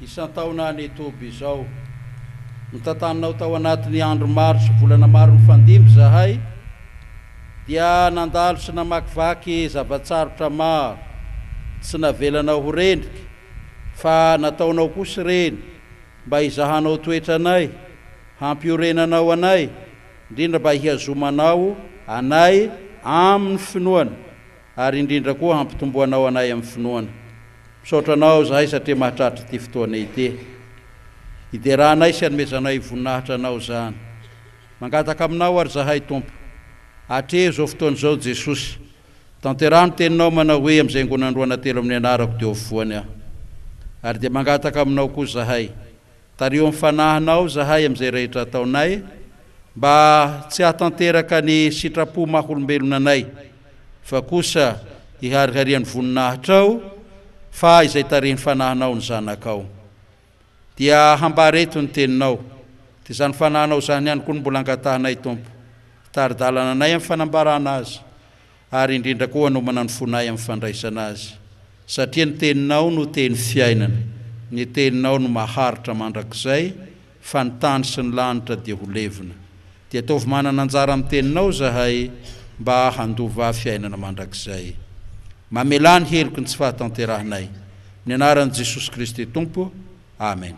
isan-taona any Toby izao. Notantananao tao anatin'ny andro maro sy volana maro nifandimby izahay, dia nandalo sy namakivaky zava-tsarotra maro. Tsy navelanao ho rendrika, fa nataonao kosa ireny mba hizahanao toetra anay, hampiorenanao anay, indrindra mba hihazomanao anay amin'ny finoana. ary indrindra koa hampitomboanao anay amin'ny finoana. Misaotra anao izahay satria mahatratra ity fotoana ity. Hideranay sy hanomezanay voninahitra anao izany. Mangataka aminao ary izahay, Tompo. Atrehy izao fotoana izao, Jesosy. Tanteraho ny teninao manao hoe, Amin'izay angonany roa na telo amin'ny anarako, dia ho voany aho. Ary dia mangataka aminao koa izahay. Tariho ny fanahinao izahay amin'izay rehetra ataonay, mba tsy hahatanteraka ny sitrapo maha-olombelona anay, fa kosa hihariharian'ny voninahitrao, fa izay tarihin'ny fanahinao ny Zanakao. Dia hambara eto ny teninao, dia izany fanahinao izany ihany koa no mbola angatahinay, Tompo. Tari-dalana anay amin'ny fanambarana azy. ary indrindra koa hanomana ny fonay amin'ny fandraisana azy, satria ny teninao no teny fiainana, ny teninao no maharitra mandrakizay, fa ny tany sy ny lanitra dia ho levona. Dia ataovy manana anjara amin'ny teninao izahay, mba handova fiainana mandrakizay. Mamelà ny heloky ny tsy fahatanterahanay. Amin'ny anaran'i Jesosy Kristy Tompo. Amen.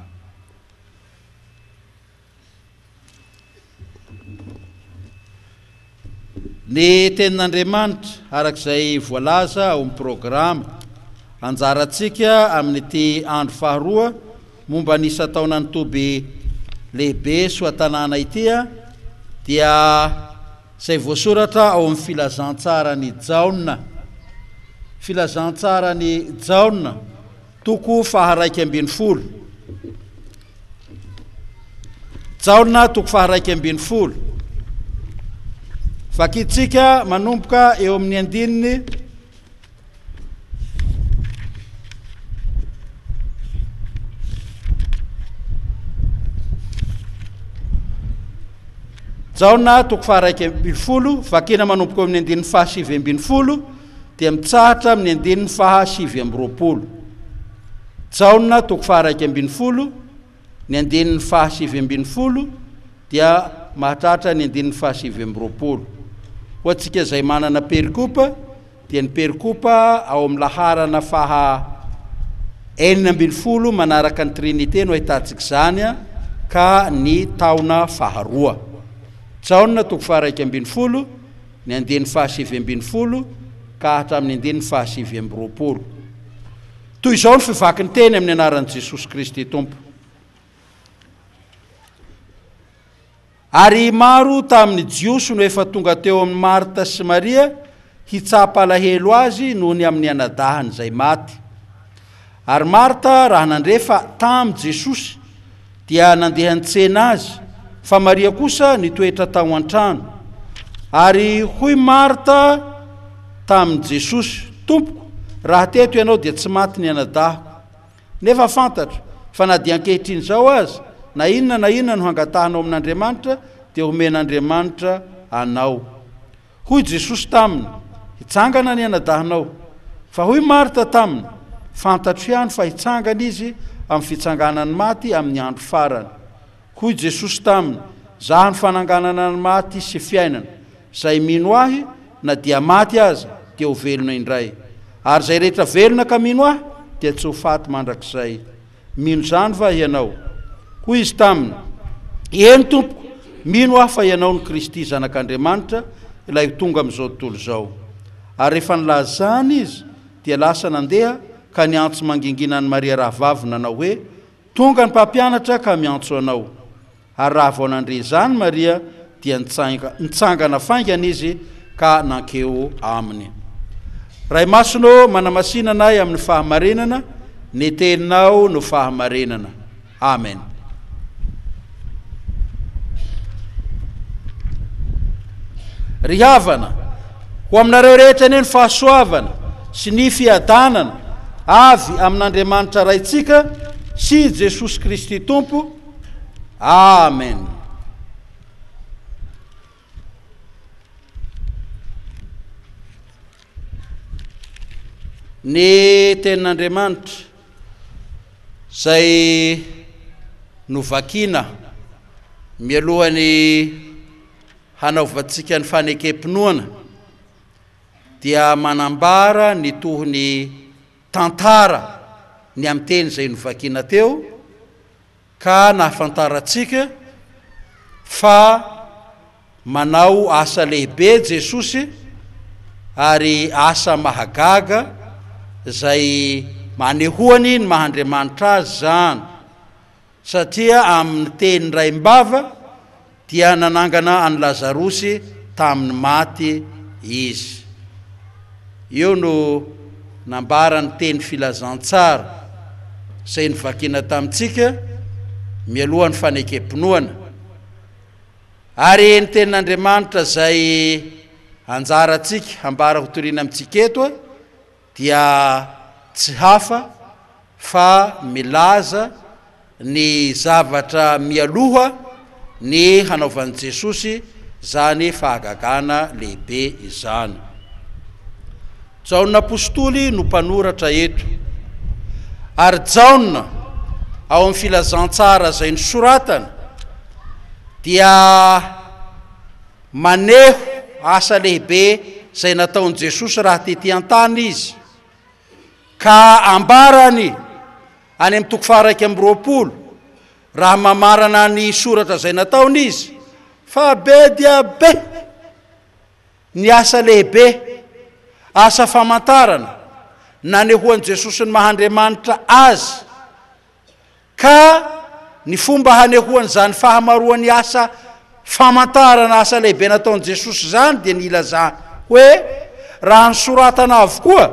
Ny Tenin'Andriamanitra, araka izay voalaza ao amin'ny programa Anjarantsika amin'ity andro faharoa momba ny isan-taonan'ny toby lehibe Soatanàna ity, dia izay voasoratra ao amin'ny Filazantsaran'i Jaona. Filazantsaran'i Jaona. Toko faha raika ambin'ny folo. Jaona toko faha raika ambin'ny folo. Vakintsika manomboka eo amin'ny andininy Jaona toko faha raika ambin'ny folo, vakina manomboka eo amin'ny andininy faha sivy ambin'ny folo. dia mitsahatra amin'ny andininy faha sivy amby roapolo. Jaona toko faha iraika ambin'ny folo, ny andininy faha sivy ambin'ny folo dia mahatratra ny andininy faha sivy amby roapolo. Ho antsika izay manana perikopa dia ny perikopa ao amin'ny laharana faha enina ambin'ny folo manaraka ny Trinite no ahitantsika izany ka ny taona faha roa. Jaona toko faha iraika ambin'ny folo. Ny andiany fahasivy ambin'ny folo ka hatramin'ny andininy fahasivy amby roapolo. Toy izao ny fivakin-teny amin'ny anaran'i Jesosy Kristy Tompo. Ary maro tamin'ny Jiosy no efa tonga teo amin'i Marta sy Maria hitsapa alahelo azy noho ny amin'ny anadahany izay maty. Ary Marta raha nandre fa tam Jesosy dia nandeha nitsena Azy, fa Maria kosa nitoetra tao antrano. Ary hoy Marta tamin Jesosy, Tompoko, raha teto Ianao dia tsy maty ny anadahiko. Nefa fantatro, fa na dia ankehitriny izao aza, na inona na inona no hangatahanao amin Andriamanitra dia homen Andriamanitra anao. Hoy Jesosy taminy, Hitsangana ny anadahinao. Fa hoy Marta taminy, Fantatro ihany fa hitsangana izy amin'ny fitsanganan'ny maty amin'ny andro farany. Hoy Jesosy taminy, Zah no fananganana ny maty sy fiainana. Zay mino Ahy, na dia maty aza, dia ho velona indray. Ary zay rehetra velona ka mino Ahy, dia tsy ho faty mandrakizay. Mino izany va ianao? Hoy izy taminy, Eny, Tompoko, mino aho fa Ianao no Kristy, Zanak'Andriamanitra, Ilay ho tonga amin'izao tontolo izao. Ary rehefa nilaza izany izy, dia lasa nandeha ka niantso mangingina an'i Maria rahavaviny, nanao hoe, Tonga ny Mpampianatra ka miantso anao. Ary raha vao nandre izany Maria dia nitsangana faingana izy ka nankeo aminy. Ray Masina ô, manamasina anay amin'ny fahamarinana, ny Teninao no fahamarinana. Amen. Ry havana, ho aminareo rehetra anie ny fahasoavana sy ny fiadanana avy amin'Andriamanitra Raintsika sy Jesosy Kristy Tompo, Amen. Ny tenin'Andriamanitra izay novakina mialohan'ny hanaovantsika ny fanekem-pinoana dia manambara ny tohony tantara ny amin'ny teny izay novakina teo ka nahafantarantsika fa manao asa lehibe Jesosy ary asa mahagaga izay manehoany ny maha Andriamanitra Azy izany. Satria amin' ny teny raim-bava dia nanangana an' i Lazarosy tamin' ny maty Izy. Io no nambara ny teny filazantsara izay novakina tamintsika mialoha ny fanekempinoana. Ary ny tenin' Andriamanitra izay anjarantsika hambara hotorina amintsika eto, dia tsy hafa fa milaza ny zavatra mialoha ny hanaovan'i Jesosy izany fahagagana lehibe izany. Jaona apostoly no mpanoratra eto, ary Jaona ao amin'ny filazantsara izay nosoratany dia Maneho asa lehibe izay nataon'i Jesosy raha tetỳ an-tany izy, ka ambarany any amin'ny toko faha-iraika amby roapolo, raha mamarana ny soratra izay nataony izy, fa be dia be ny asa lehibe, asa famantarana, nanehoan'i Jesosy ny maha Andriamanitra azy. ka ny fomba hanehoan'izany fahamaroan'ny asa famantarana asa lehibe nataon'i Jesosy izany dia ny ilazany hoe raha nosoratana avokoa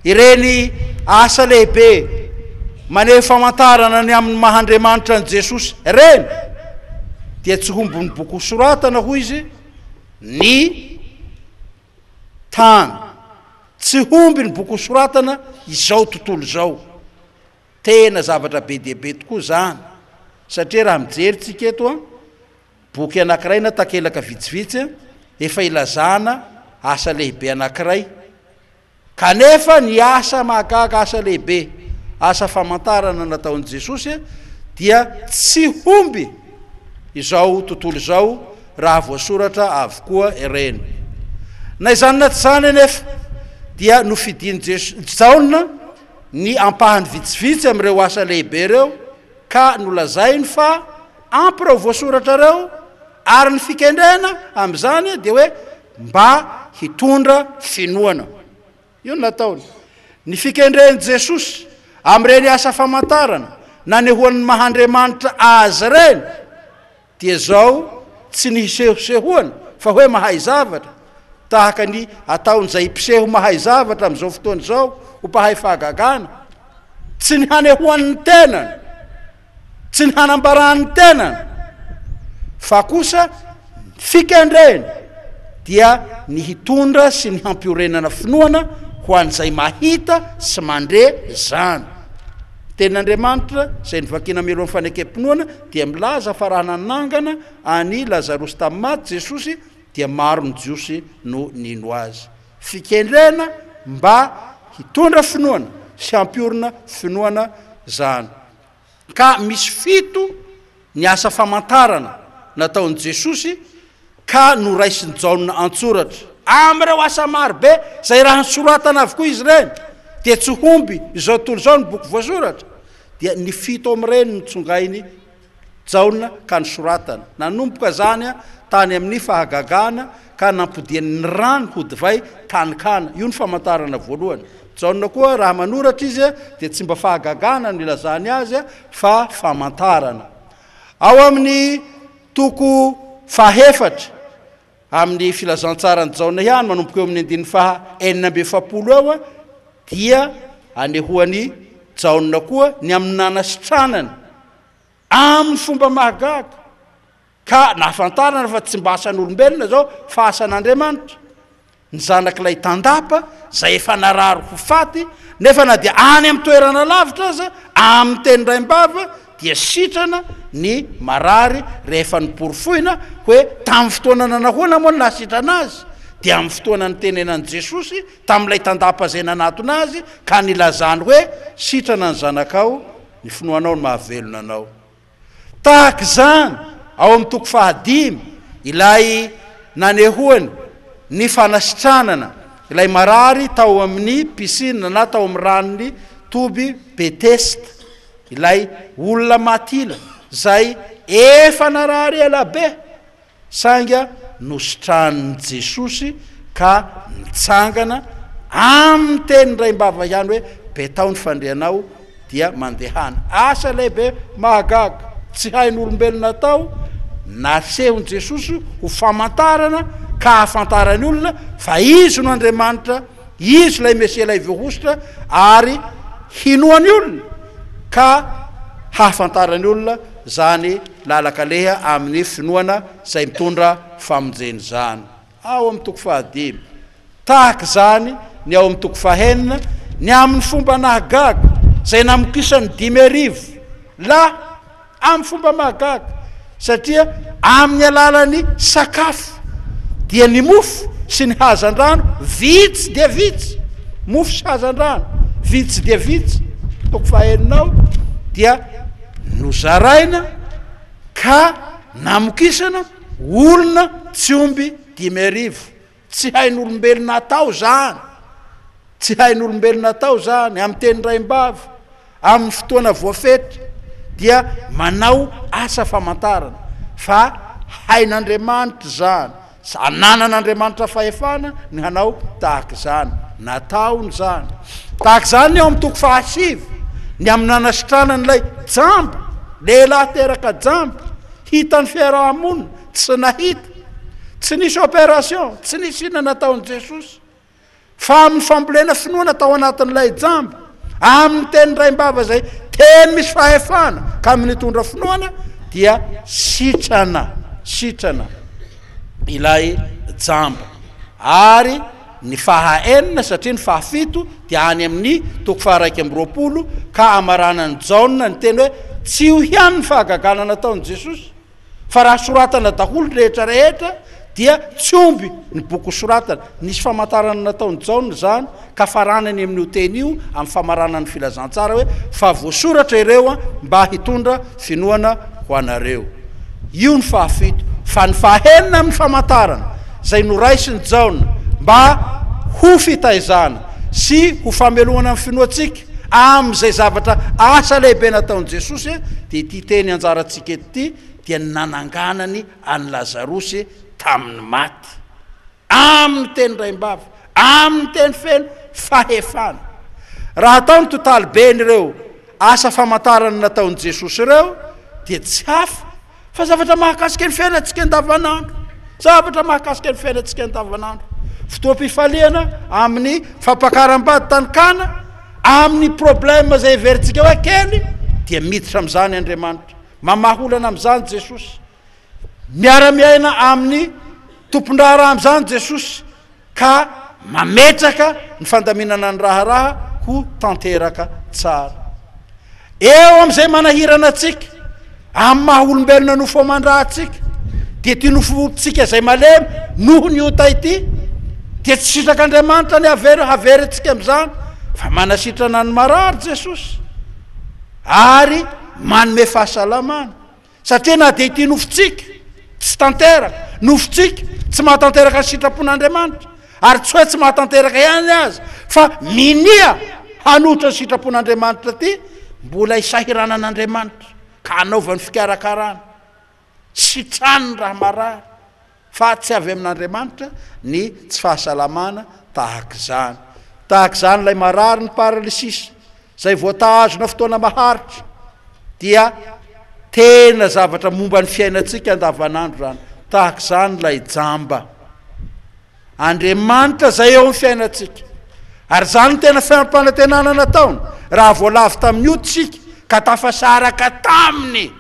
ireny asa lehibe maneho famantarana ny amin'ny maha Andriamanitra an'i Jesosy ireny dia tsy hombon'ny boky hosoratana hoy izy ny tany tsy homby ny boky hosoratana izao tontolo izao Tena zavatra be dia be tokoa izany, satria raha mijery isika eto an, boky anankiray na takelaka vitsivitsy an, efa ilazana asa lehibe anankiray, kanefa ny asa mahagaga, asa lehibe, asa famantarana nataon'i Jesosy dia tsy homby izao tontolo izao raha voasoratra avokoa ireny. Na izany na tsy izany anefa dia nofidin'i Jaona, ny ampahany vitsivitsy amin'ireo asa lehibe ireo ka nolazainy fa ampy ireo voasoratra ireo ary ny fikendrena amin'izany dia hoe mba hitondra finoana. Io no nataony. Ny fikendren'i Jesosy amin'ireny asa famantarana nanehoan'ny maha Andriamanitra Azy ireny, Dia zao tsy ny hisehosehoana fa hoe mahay zavatra, tahaka ny ataon'izay mpiseho mahay zavatra amin'izao fotoana izao ho mpahay fahagagana, tsy ny hanehoany ny tenany, tsy ny hanambarany ny tenany, fa kosa ny fikendreny dia ny hitondra sy ny hampiorenana finoana ho an'izay mahita sy mandre izany. Ny tenin'Andriamanitra izay novakina mialohan'ny fanekem-pinoana dia milaza fa raha nanangana an'i Lazarosy tamin'ny maty Jesosy dia maro ny Jiosy no nino Azy. Fikendrena mba hitondra finoana sy hampiorina finoana izany. Ka misy fito ny asa famantarana nataon'i Jesosy ka noraisin'i Jaona an-tsoratra. Amin'ireo asa maro be izay raha nosoratana avokoa izy ireny, dia tsy homby izao tontolo izao ny boky voasoratra, dia ny fito amin'ireny no tsongain'i Jaona ka nosoratany. Nanomboka izany tany amin'ny fahagagana ka nampodiany ny rano ho divay tany Kana. Io no famantarana voalohany. Jaona koa raha manoratra izy dia tsy mba fahagagana no ilazany azy fa famantarana. Ao amin'ny. Toko fahefatra amin'ny Filazantsaran'i Jaona ihany, manomboka eo amin'ny andininy faha enina amby efapolo eo, dia anehoan'i Jaona koa ny amin'ny nanasitranany amin'ny fomba mahagaga, ka nahafantarana fa tsy mba asan'olombelona izao fa asan'Andriamanitra. ny zanak'ilay tandapa izay efa narary ho faty, nefa na dia any amin'ny toerana lavitra aza, amin'ny teny raim-bava dia sitrana ny marary rehefa noporofoina hoe tamin'ny fotoana nanahoana moa no nahasitrana azy? dia amin'ny fotoana nitenenan'i Jesosy tamin'ilay tandapa izay nanatona Azy ka nilazany hoe, sitrana ny zanakao, ny finoanao no mahavelona anao. Tahaka izany, ao amin'ny toko fahadimy, ilay nanehoany ny fanasitranana ilay marary tao amin'ny pisina na tao amin'ny ranon'ny toby Betesda, ilay olona matila izay efa narary ela be Sainga nositranin'i Jesosy ka nitsangana amin'ny teny raim-bava ihany hoe, Betao ny fandrianao, dia mandehana. Asa lehibe mahagaga, tsy hain'olombelona atao, nasehon'i Jesosy ho famantarana ka hahafantaran'ny olona fa Izy no Andriamanitra, Izy ilay Mesia ilay voahosotra ary hinoan'ny olona ka hahafantaran'ny olona izany lalan-kaleha amin'ny finoana izay mitondra famonjena izany. Ao amin'ny toko fahadimy. Tahaka izany ny ao amin'ny toko fahenina, ny amin'ny fomba nahagaga izay namokisan'ny dimy arivo lahy, Amin'ny fomba mahagaga, satria amin'ny alalan'ny sakafo, dia ny mofo sy ny hazandrano vitsy dia vitsy, mofo sy hazandrano vitsy dia vitsy, toko fahaenina ao, dia nozaraina ka namokisana olona tsy omby dimy arivo, Tsy hain'olombelona atao izany. Tsy hain'olombelona atao izany. Amin'ny teny raim-bavy, amin'ny fotoana voafetra, dia manao asa famantarana. Fa hain'Andriamanitra izany. Ananan'Andriamanitra fahefana ny hanao tahaka izany. Nataony izany. Tahaka izany ny ao amin'ny toko fahasivy, ny amin'ny nanasitranany ilay jamba, lehilahy teraka jamba, hitan'ny fiaraha-monina, Tsy nahita, tsy nisy opération, tsy nisy inona nataon'i Jesosy, fa amin'ny fambolena finoana tao anatin'ilay jamba, amin'ny teny raim-bava izay teny misy fahefana ka mitondra finoana, dia sitrana, sitrana ilay jamba. Ary ny faha enina, satria ny faha fito dia any amin'ny toko faha iraika amby roapolo, ka amaranan'i Jaona ny teny hoe, Tsy io ihany ny fahagagana nataon'i Jesosy, Fa raha soratana daholo ny rehetra rehetra dia tsy omby ny boky hosoratana. Nisy famantarana nataon'i Jaona izany ka farany any amin'io teny io amin'ny famaranana ny Filazantsara hoe, Fa voasoratra ireo mba hitondra finoana ho anareo. Io ny fahafito. Fa ny fahenina amin'ny famantarana izay noraisin'i Jaona mba ho fitaizana sy ho famelomana ny finoantsika amin'izay zavatra asa lehibe nataon'i Jesosy dia ity teny anjarantsika ity. Kristy dia ny nananganany an'i Lazarosy tamin'ny maty, amin'ny teny raim-bava, amin'ny teny feno fahefana. Raha atao ny totaliben'ireo asa famantarana nataon'i Jesosy ireo, dia tsy hafa fa zavatra mahakasika ny fiainantsika andavanandro, zavatra mahakasika ny fiainantsika andavanandro, fotoam-pifaliana amin'ny fampakaram-bady tany Kana, amin'ny problème izay heverintsika hoe kely, dia miditra amin'izany Andriamanitra. Mamaha olana amin'izany Jesosy. Miara-miaina amin'ny tompon-draharaha amin'izany Jesosy, ka mametraka ny fandaminana ny raharaha ho tanteraka tsara. Eo amin'izay manahirana antsika, amin'ny maha-olombelona nofo aman-drahantsika, dia ity nofontsika izay malemy noho ny ota ity, dia tsy sitrak'Andriamanitra ny havery, havery antsika amin'izany, fa manasitrana ny marary Jesosy. ary manome fahasalamana satria na dia ity nofontsika tsy tanteraka, nofontsika tsy mahatanteraka ny sitrapon'Andriamanitra ary tsy hoe tsy mahatanteraka ihany aza fa minia hanohitra ny sitrapon'Andriamanitra ity mbola isahiranan'Andriamanitra ka hanaovany fikarakarana. Sitrany raha marary, fa tsy avy amin'Andriamanitra ny tsy fahasalamana tahaka izany. Tahaka izany ilay marary ny paralysis, izay voatahazona fotoana maharitra, dia tena zavatra momba ny fiainantsika andavanandro izany. Tahaka izany ilay jamba. Andriamanitra izay eo amin'ny fiainantsika. Ary izany no tena fiampanantenana nataony, raha vao lavo tamin'ny ody isika, ka tafasaraka taminy.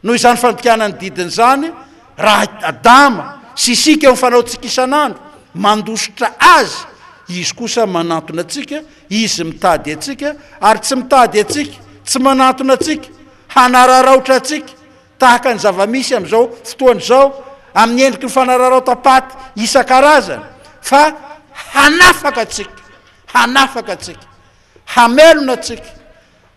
Noho izany fandikana ny didiny izany, raha Adama sy isika eo amin'ny fanaontsika isan'andro, mandositra Azy, Izy kosa manantona antsika, Izy mitady antsika, ary tsy mitady antsika, tsy manantona antsika, hanararaotra antsika, tahaka ny zava-misy amin'izao fotoana izao, amin'ny endriky ny fanararaotam-paty isan-karazany, fa hanafaka antsika, hanafaka antsika, hamelona antsika,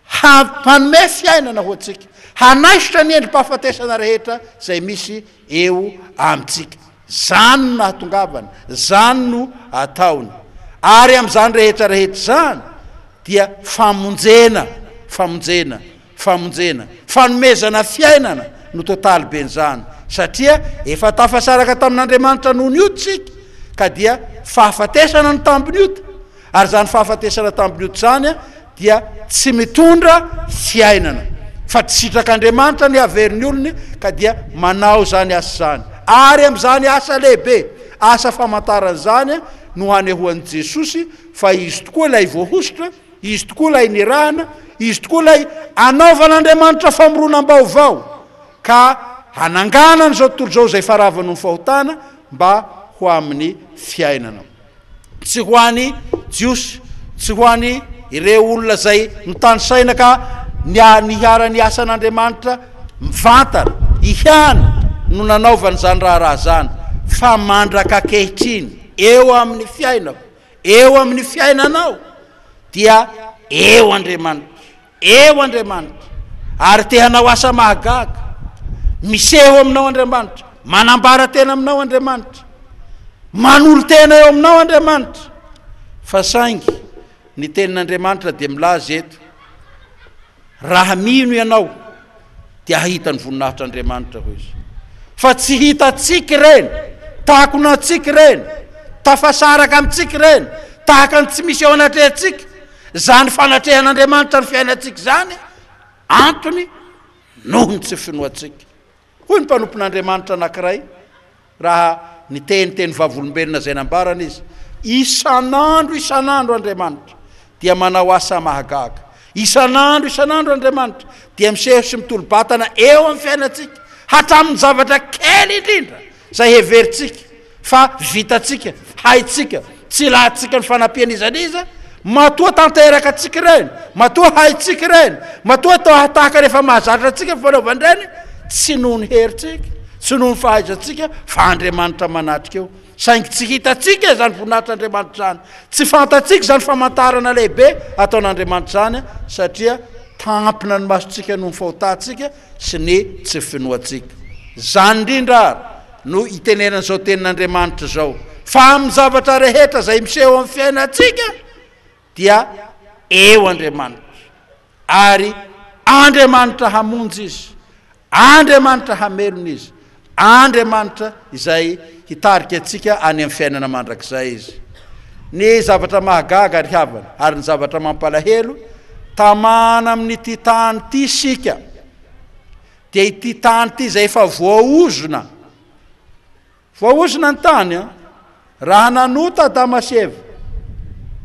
Hanome fiainana ho antsika. Hanaisotra ny endri-pahafatesana rehetra izay misy eo amintsika. Izany no nahatongavany, izany no ataony. Ary amin'izany rehetra rehetra izany dia famonjena, famonjena, famonjena, fanomezana fiainana no totaly ben'izany, satria efa tafasaraka tamin'Andriamanitra noho ny ota isika, ka dia fahafatesana no tambin'ny ota. Ary izany fahafatesana tambiloto izany dia tsy mitondra fiainana, fa tsy sitrak'Andriamanitra ny hahavery ny olony, ka dia manao izany asa izany. Ary amin'izany asa lehibe, asa famantarana izany no hanehoan'i Jesosy fa Izy tokoa ilay voahosotra, Izy tokoa ilay nirahana, Izy tokoa ilay anaovan'Andriamanitra famoronam-baovao, ka hananganana izao tontolo izao izay efa ravin'ny fahotana mba ho amin'ny fiainana. Tsy ho any Jiosy, tsy ho any ireo olona izay mitanisaina ka niharan'ny asan'Andriamanitra mivantana ihany no nanaovany izany raharaha izany, fa mandrak'ankehitriny eo amin'ny fiainako, eo amin'ny fiainanao dia eo Andriamanitra. Eo Andriamanitra, ary te hanao asa mahagaga. Miseho aminao Andriamanitra, manambara tena aminao Andriamanitra. Manolo-tena eo aminao Andriamanitra. Fa saingy ny tenin'Andriamanitra dia milaza eto, raha mino ianao, dia hahita ny voninahitr'Andriamanitra, hoy izy. Fa tsy hitantsika ireny, takona antsika ireny, tafasaraka amintsika ireny, tahaka ny tsy misy eo anatrehantsika, izany fanatrehan'Andriamanitra ny fiainantsika izany, antony noho ny tsy finoantsika. Hoy ny mpanompon'Andriamanitra anankiray, Raha niteny teny vavolombelona izay nambarany izy, Isan'andro isan'andro Andriamanitra dia manao asa mahagaga. Isan'andro isan'andro Andriamanitra dia miseho sy mitolo-batana eo amin'ny fiainantsika, hatramin'ny zavatra kely indrindra izay heverintsika fa vitantsika, haintsika, Tsy ilatsika ny fanampiana iza n'iza, matoa tanteraka antsika ireny, matoa haintsika ireny, matoa toa hahatahaka ny efa mahazatra antsika ny fanaovana ireny, tsy noho ny herintsika, tsy noho ny fahaizantsika, fa Andriamanitra manatrika eo. Saingy tsy hitantsika izany voninahitr'Andriamanitra izany, tsy fantatsika izany famantarana lehibe ataon'Andriamanitra izany, satria tampina ny masontsika noho ny fahotantsika sy ny tsy finoantsika. Izany indrindra ary no itenenana izao tenin'Andriamanitra izao, fa amin'ny zavatra rehetra izay miseho amin'ny fiainantsika dia eo Andriamanitra, ary Andriamanitra hamonjy izy, Andriamanitra hamelona izy, Andriamanitra izay hitarika antsika any amin'ny fiainana mandrakizay izy. Ny zavatra mahagaga ry havana ary ny zavatra mampalahelo, tamana amin'ity tany ity isika, Dia ity tany ity izay efa voaozona. Voaozona ny tany an! Raha nanota Adama sy Eva,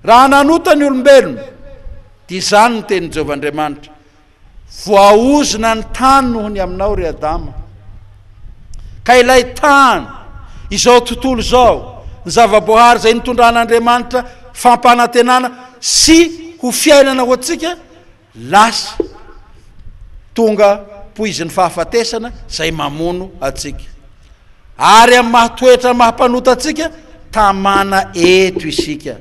raha nanota ny olombelona, dia izany no tenin'i Jehovah Andriamanitra, Voaozona ny tany noho ny aminao, ry Adama. Ka ilay tany, izao tontolo izao, ny zava-boahary izay nitondran'Andriamanitra fampanantenana sy ho fiainana ho antsika, Lasa tonga poizin'ny fahafatesana izay mamono antsika. Ary amin'ny maha toetra maha mpanota antsika, tamana eto isika.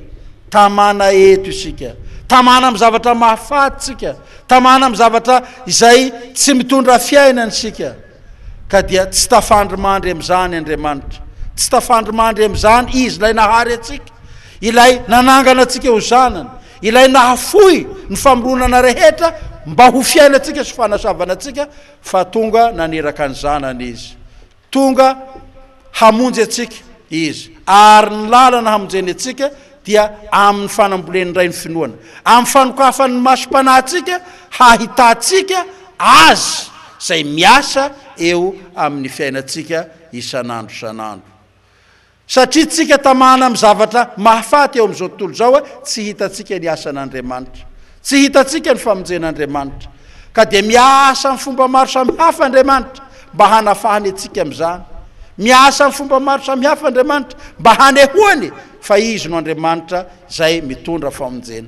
Tamana eto isika. Tamana amin'ny zavatra mahafaty isika. Tamana amin'ny zavatra izay tsy mitondra fiainana isika. Ka dia tsy tafandrimandry amin'izany Andriamanitra. Tsy tafandrimandry amin'izany Izy ilay nahary antsika, ilay nanangana antsika ho zanany, Ilay nahafoy ny famoronana rehetra mba ho fiainantsika sy fanasavana antsika, fa tonga naniraka ny Zanany Izy. Tonga hamonjy antsika Izy, ary ny lalana hamonjeny antsika dia amin'ny fanambolen'ny Ray ny finoana, amin'ny fanokafany ny masom-panahintsika hahitantsika Azy izay miasa eo amin'ny fiainantsika isan'andro isan'andro. Satria tsika tamana amin'ny zavatra mahafaty eo amin'izao tontolo izao, tsy hitantsika ny asan'Andriamanitra. Tsy hitantsika ny famonjen'Andriamanitra. Ka dia miasa amin'ny fomba maro samihafa Andriamanitra mba hanafahany antsika amin'izany. Miasa amin'ny fomba maro samihafa Andriamanitra mba hanehoany fa Izy no Andriamanitra izay mitondra famonjena.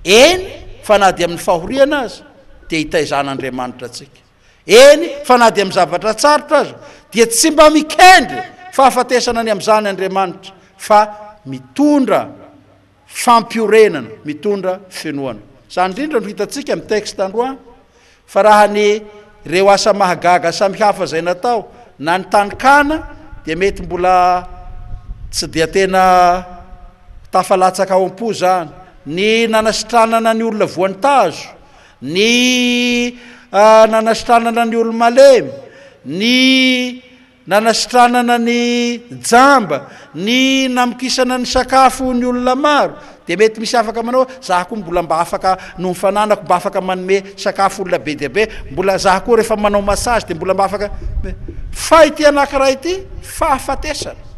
Eny fa na dia amin'ny fahoriana aza dia hitaizan'Andriamanitra antsika. Eny fa na dia amin'ny zavatra tsarotra aza dia tsy mba mikendry fahafatesana ny amin'izany Andriamanitra fa mitondra fampiorenana, mitondra finoana. Izany indrindra no hitantsika amin'ny texte androany fa raha ny ireo asa mahagaga samihafa izay natao na ny tany Kana dia mety mbola tsy dia tena tafalatsaka ao am-po izany, ny nanasitranana ny olona voan'ny tazo ny nanasitranana ny olo-malemy, ny nanasitranana ny jamba, ny namokisana ny sakafo ny olona maro, dia mety misy afaka manao hoe za koa mbola mba afaka noho ny fananako mba afaka manome sakafo olona be dia be, mbola za koa rehefa manao massage dia mbola mba afaka, fa ity anankiray ity fahafatesana.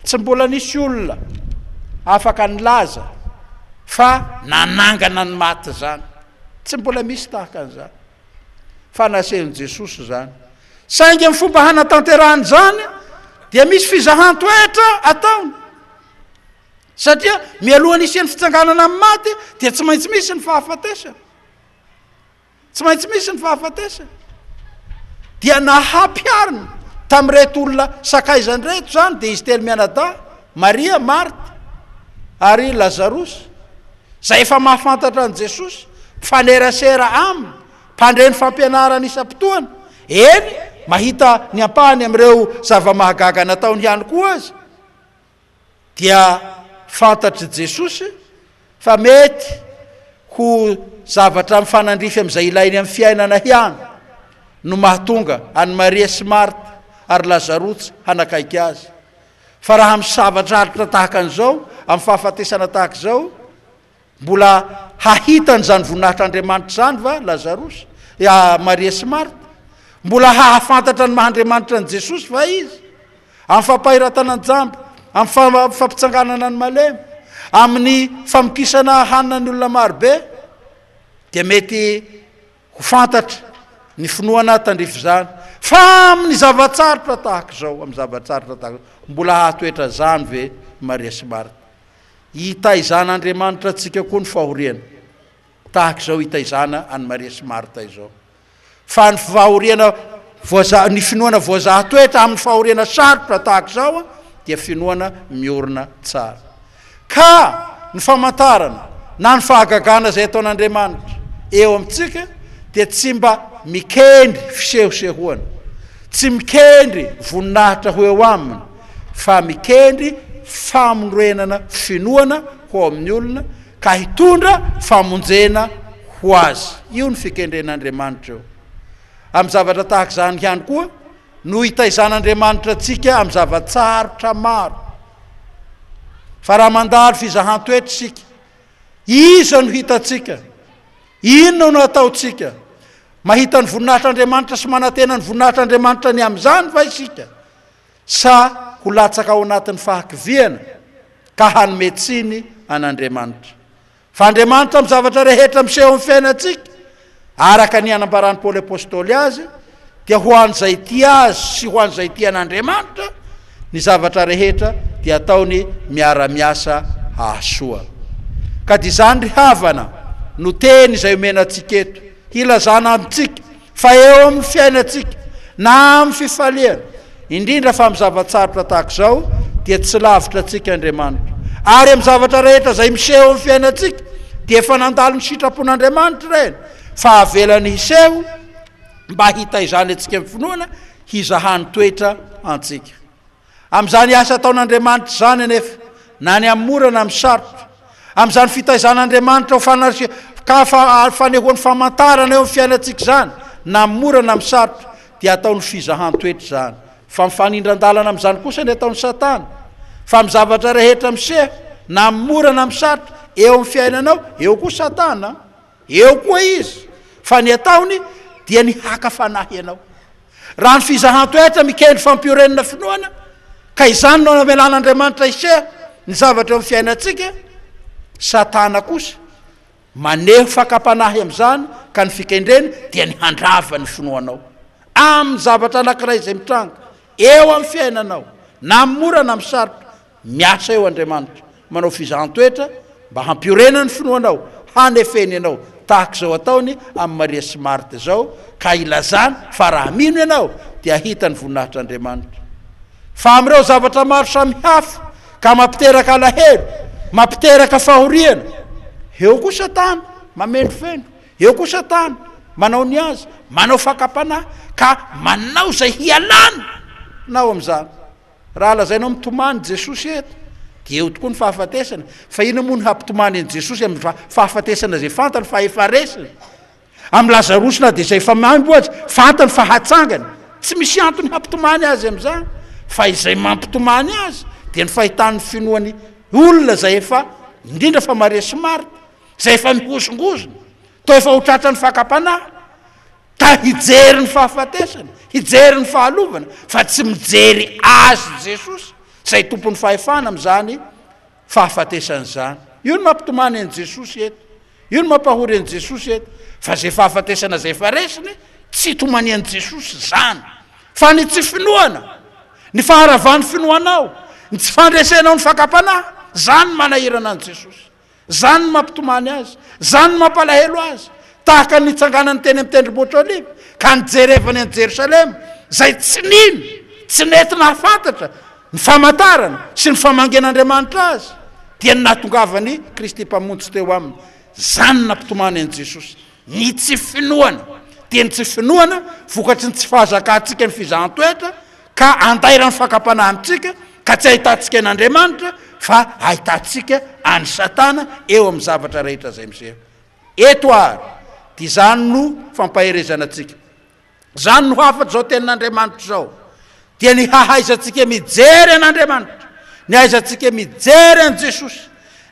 Tsy mbola nisy olona afaka nilaza fa nanangana ny maty izany. Tsy mbola misy tahaka an'izany. Fa nasehon'i Jesosy izany. Saingy ny fomba hanatanterahany izany dia misy fizahan-toetra ataony. Satria mialohan'ny hisian'ny fitsanganana amin'ny maty dia tsy maintsy misy ny fahafatesana. Tsy maintsy misy ny fahafatesana. Dia nahampiharina tamin'ireto olona sakaizany ireto izany, dia izy telo mianadahy, Maria, Marta ary Lazarosy, izay efa mahafantatra an'i Jesosy, mifanerasera Aminy, mpandre ny fampianarany isam-potoana, eny, mahita ny ampahany amin'ireo zava-mahagaga nataony ihany koa aza. dia fantatr'i Jesosy fa mety ho zavatra mifanandrify amin'izay ilainy amin'ny fiainana ihany no mahatonga an'i Maria sy Marta ary Lazarosy hanakaiky Azy. Fa raha misava-draritra tahaka an'izao, amin'ny fahafatesana tahaka izao, Mbola hahita an'izany voninahitr'Andriamanitra izany va Lazarosy, Maria sy Marta? Mbola hahafantatra ny maha-Andriamanitra an'i Jesosy va izy? Amin'ny fampahiratana ny jamba, amin'ny fampitsanganana ny malemy, amin'ny famokisana hanina ny olona marobe, dia mety Ho fantatra ny finoana tandrify izany, fa amin'ny zava-tsarotra tahaka izao, amin'ny zava-tsarotra tahaka izao, mbola hahatoetra izany ve i Maria sy Marta? Hitaizan'Andriamanitra antsika koa ny fahoriana, tahaka izao hitaizana an'i Maria sy Marta izao. Fa ny fahoriana voaza, ny finoana voazaha toetra amin'ny fahoriana sarotra tahaka izao dia finoana miorina tsara. Ka ny famantarana na ny fahagagana izay ataon'Andriamanitra eo amintsika dia tsy mba mikendry fisehosehoana, tsy mikendry voninahitra ho eo aminy, fa mikendry famonorenana finoana ho ao amin'ny olona ka hitondra famonjena ho azy. Io no fikendren'Andriamanitra eo amin'ny zavatra tahaka izany ihany koa. no hitaizan'Andriamanitra antsika amin'ny zava-tsarotra maro. Fa raha mandalo fizahan-toetra isika, iza no hitantsika? Inona no ataontsika? Mahita ny voninahitr'Andriamanitra sy manantena ny voninahitr'Andriamanitra ny amin'izany va isika? Sa ho latsaka ao anatin'ny fahakiviana ka hanome tsiny an'Andriamanitra? Fa Andriamanitra amin'ny zavatra rehetra miseho amin'ny fiainantsika, araka ny anambaran'i Paoly Apôstôly azy, dia ho an'izay tia Azy sy ho an'izay tia an'Andriamanitra, ny zavatra rehetra dia ataony miara-miasa hahasoa. Ka dia izany ry havana no teny izay omena antsika eto, hilazana amintsika Fa eo amin'ny fiainantsika, na amin'ny fifaliana, indrindra fa amin'ny zava-tsarotra tahaka izao, dia tsy lavitra antsika Andriamanitra. Ary amin'ny zavatra rehetra izay miseho amin'ny fiainantsika, dia efa nandalo ny sitrapon'Andriamanitra ireny, fa avelany hiseho mba hitaizana antsika amin'ny finoana, hizahany toetra antsika. Amin'izany asa ataon'Andriamanitra izany anefa, na ny amin'ny mora na amin'ny sarotra, amin'izany fitaizan'Andriamanitra ho fanarisian-kafa ary fanehoany famantarana eo amin'ny fiainantsika izany, na amin'ny mora na amin'ny sarotra, dia ataony ho fizahan-toetra izany. Fa mifanindran-dalana amin'izany kosa ny ataon'i Satana. Fa amin'ny zavatra rehetra miseho, na amin'ny mora na amin'ny sarotra, eo amin'ny fiainanao, eo koa Satana. Eo koa izy fa ny ataony dia ny haka fanahy ianao. Raha ny fizahan-toetra mikendry fampiorenana finoana ka izany no namelan'Andriamanitra hiseha ny zavatra eo amin'ny fiainantsika, Satana kosa maneho fakam-panahy amin'izany ka ny fikendreny dia ny handrava ny finoanao amin'ny zavatra anankiray izay mitranga eo amin'ny fiainanao na amin'ny mora na amin'ny sarotra. Miasa eo Andriamanitra, manao fizahan-toetra mba hampiorena ny finoanao, hanefeny anao, tahaka izao ataony amin'i Maria sy Marta izao, ka ilazany fa raha mino ianao dia hahita ny voninahitr'Andriamanitra. Fa amin'ireo zavatra maro samihafa ka mampiteraka alahelo, mampiteraka fahoriana, eo koa Satana mamendrofendro, eo koa Satana manao ny azy, manao fakam-panahy, ka manao izay hialana nao amin'izany. Raha lazainao mitomany Jesosy eto dia eo tokoa ny fahafatesana, fa inona moa no hampitomany an'i Jesosy amin'ny fahafatesana izay fantany fa efa resiny? Amin'i Lazarosy na dia izay efa maimbo aza, fantany fa hatsangana. Tsy misy antony hampitomany azy amin'izany, fa izay mampitomany azy dia ny fahitan'ny finoan'ny olona izay efa, indrindra fa Maria sy Marta, izay efa mihozongozona, toa efa ho tratran'ny fakam-panahy. Ka hijery ny fahafatesana, hijery ny fahalovana, fa tsy mijery Azy Jesosy, izay Tompon'ny fahefana amin'izany fahafatesana izany. Io no mampitomany an'i Jesosy eto. Io no mampahory an'i Jesosy eto. Fa izay fahafatesana izay efa resiny, tsy hitomanian'i Jesosy izany. Fa ny tsy finoana, ny faharavan'ny finoanao, ny tsy fandresenao ny fakam-panahy, izany no manahirana an'i Jesosy. Izany no mampitomany azy. Izany no mampalahelo azy. Tahaka ny nitsanganany teny amin'ny Tendrombohitra Oliva, ka nijerevany an'i Jerosalema, izay tsy nino, tsy nety nahafantatra ny famantarana sy ny famangian'Andriamanitra azy, dia ny nahatongavan'i Kristy Mpamonjy teo aminy. Izany no nampitomany an'i Jesosy. Ny tsy finoana. Dia ny tsy finoana, vokatry ny tsy fahazakantsika ny fizahan-toetra, Ka andairan'ny fakam-panahintsika ka tsy ahitantsika an'Andriamanitra fa ahitantsika an'i Satana eo amin'ny zavatra rehetra izay miseho eto ary dia izany no fampaherezana antsika. Izany no hafatr' izao tenin'Andriamanitra izao dia ny hahaizantsika mijery an'Andriamanitra, ny hahaizantsika mijery an'i Jesosy,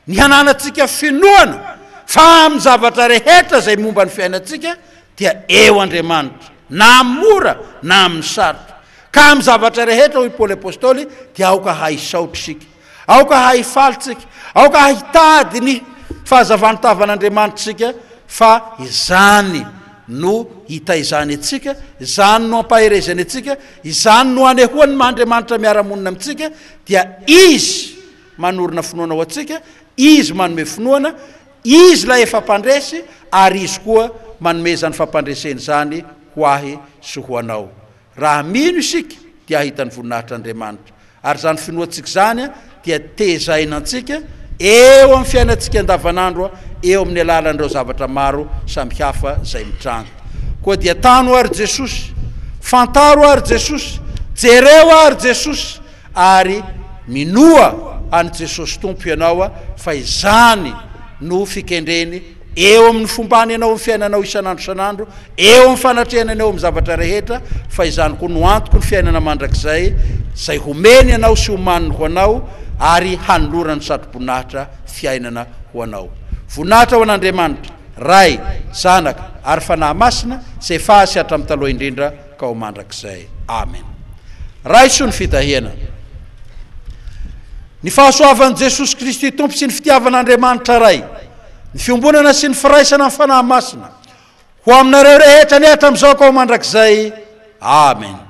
ny hananantsika finoana fa amin'ny zavatra rehetra izay momba ny fiainantsika dia eo Andriamanitra, na amin'ny mora na amin'ny sarotra. Ka amin'ny zavatra rehetra, hoy Paoly Apostoly, dia aoka hahisaotra isika, aoka hahifaly isika, aoka hahitady ny fahazavan'ny tavan'Andriamanitra isika, fa izany no hitaizany antsika, izany no ampaherezany antsika, izany no anehoany ny maha-Andriamanitra miara-monina amintsika, dia Izy manorina finoana ho antsika, Izy manome finoana, Izy ilay efa mpandresy, ary Izy koa manome izany fampandresena izany ho ahy sy ho anao. Raha mino isika, dia hahita ny voninahitr'Andriamanitra. Ary izany finoantsika izany dia tezaina antsika eo amin'ny fiainantsika andavanandro eo amin'ny alalan'ireo zavatra maro samihafa izay mitranga. Koa dia tano àry Jesosy. Fantaro àry Jesosy. Jereo àry Jesosy. Ary minoa an'i Jesosy Tompo ianao fa izany no fikendreny eo amin'ny fombany ianao amin'ny fiainanao isan'andro isan'andro, eo amin'ny fanatrehanany eo amin'ny zavatra rehetra, fa izany koa no antoko ny fiainana mandrakizay izay homeny anao sy homaniny ho anao ary hanolorany satroboninahitra fiainana ho anao. Voninahitra ho an'Andriamanitra, Ray, Zanaka ary Fanahy Masina, tsy efa azy sy hatramin'ny taloha indrindra. ka ho mandrakizay. Amen. Raiso ny fitahiana. Ny fahasoavan'i Jesosy Kristy Tompo sy ny fitiavan'Andriamanitra Ray, ny fiombonana sy ny firaisana amin'ny Fanahy Masina, ho aminareo rehetra anie hatramin'izao ka ho mandrakizay. Amen.